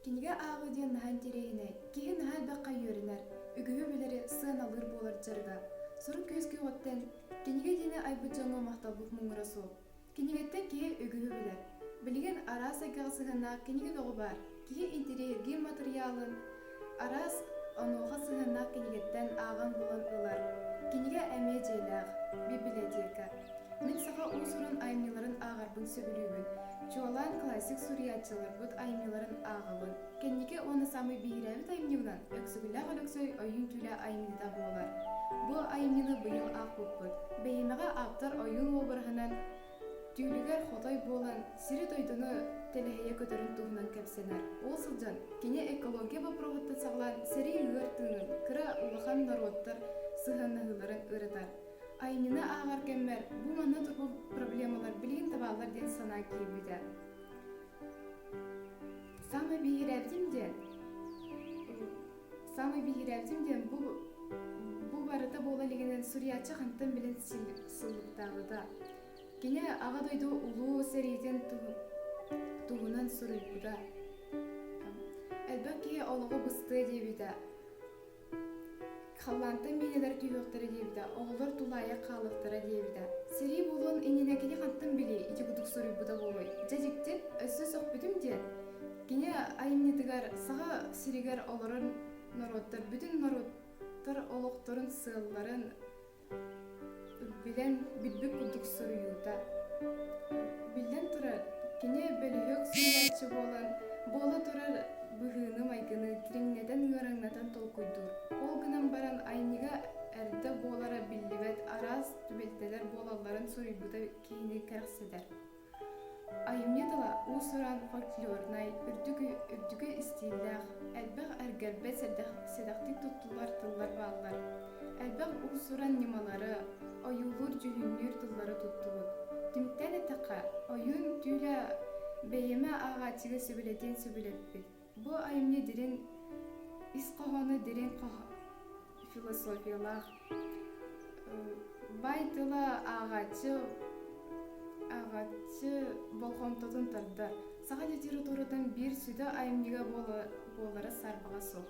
Кинигэ ааҕыы диэн наһаа интэриэһинэй. Киһи наһаа элбэххэ үөрэнэр, үгүһү билэри сыаналыыр буолар дьарыга. Сору күөскүү оҕоттон кинигэ диэни айбыт дьоҥҥо махталбыт муҥура суох. Кинигэттэн киһи үгүһү билэр. Билигин араас эйгэҕэ сыһыаннаах кинигэ бөҕө баар. Киһи интэриэһиргиир матырыйаалын араас онуоха сыһыаннаах кинигэттэн ааҕан-булан ылар. Кинигэ эмиэ дьиэлээх, бибилэтиэкэ. Мин саха уусурун айымньыларын ааҕарбын сөбүлүүбүн, чуолаан классик суруйааччыларбыт айымньыларын ааҕабын. Кэнники уонна саамай биһирээбит айымньыбынан Өксүгүлээх Өлөксөй ойуун түүлэ айымньыта буолар. Бу айымньыны быйыл аахпыппыт. Бэһиэмэҕэ ааптар ойуун уобараһынан Түүлүгэр хотой буолан, сири-дойдуну тэлэһийэ көтөрүн туһунан кэпсэнэр. Ол сылдьан, кини экология боппуруоһуттан саҕалаан сэрии үөр тыынын, кыра улахан норуоттар сыһыаннаһыыларын ырытар. Айымньыны ааҕар кэммэр бу манна турбу проблемалар билигин табааллар диэн санаа киирбитэ. Саамай биһирээбитим диэн, Саамай биһирээтим диэн бу бу барыта буола илигинэн суруйааччы хантан билин сыллыктаабыта. Кини Аҕа дойду Улуу сэриитин туһунан суруйбута. Элбэх киһи олоҕу быстыа диэбитэ. Халлаантан миинэлэр түһүөхтэрэ диэбитэ, оҕолор тулаайах хаалыахтара диэбитэ. Сэрии буолуон иннинэ кини хантан билии ити курдук суруйбута буолуой? Дьэ дьикти, өссө сөхпүтүм диэн Кини айымньытыгар Саха сиригэр олорон норуоттар бүтүн норуоттар олохторун сыалларын билэн билбит курдук суруйуута. Биллэн турар, кини бөлүһүөк суруйааччы буолан буола турар быһыыны-майгыны дириҥнэтэн ыараҥнатан толкуйдуур. Ол гынан баран айымньыга эрдэ буолара биллибэт араас түбэлтэлэр буолалларын суруйбута киһини кэрэхсэтэр. айымньы тыла уус-уран фольклорнай үрдүкү үрдүкү истииллээх элбэх эргэрбэт сэдэхтик туттуллар тыллар бааллар элбэх уус-уран ньымалары ойуулуур дьүһүннүүр тыллары туттубут түмүктэн эттэххэ ойуун түүлэ бэйэмэ ааҕааччыга сөбүлэтиэн сөбүлэппит Бу айымньы дириҥ ис хоһооно дириҥ философиялаах бай тыла ааҕааччы ааҕааччы болҕомтотун тардар саха литературатын биир сүдэ айымньыга буолара саарбаҕа суох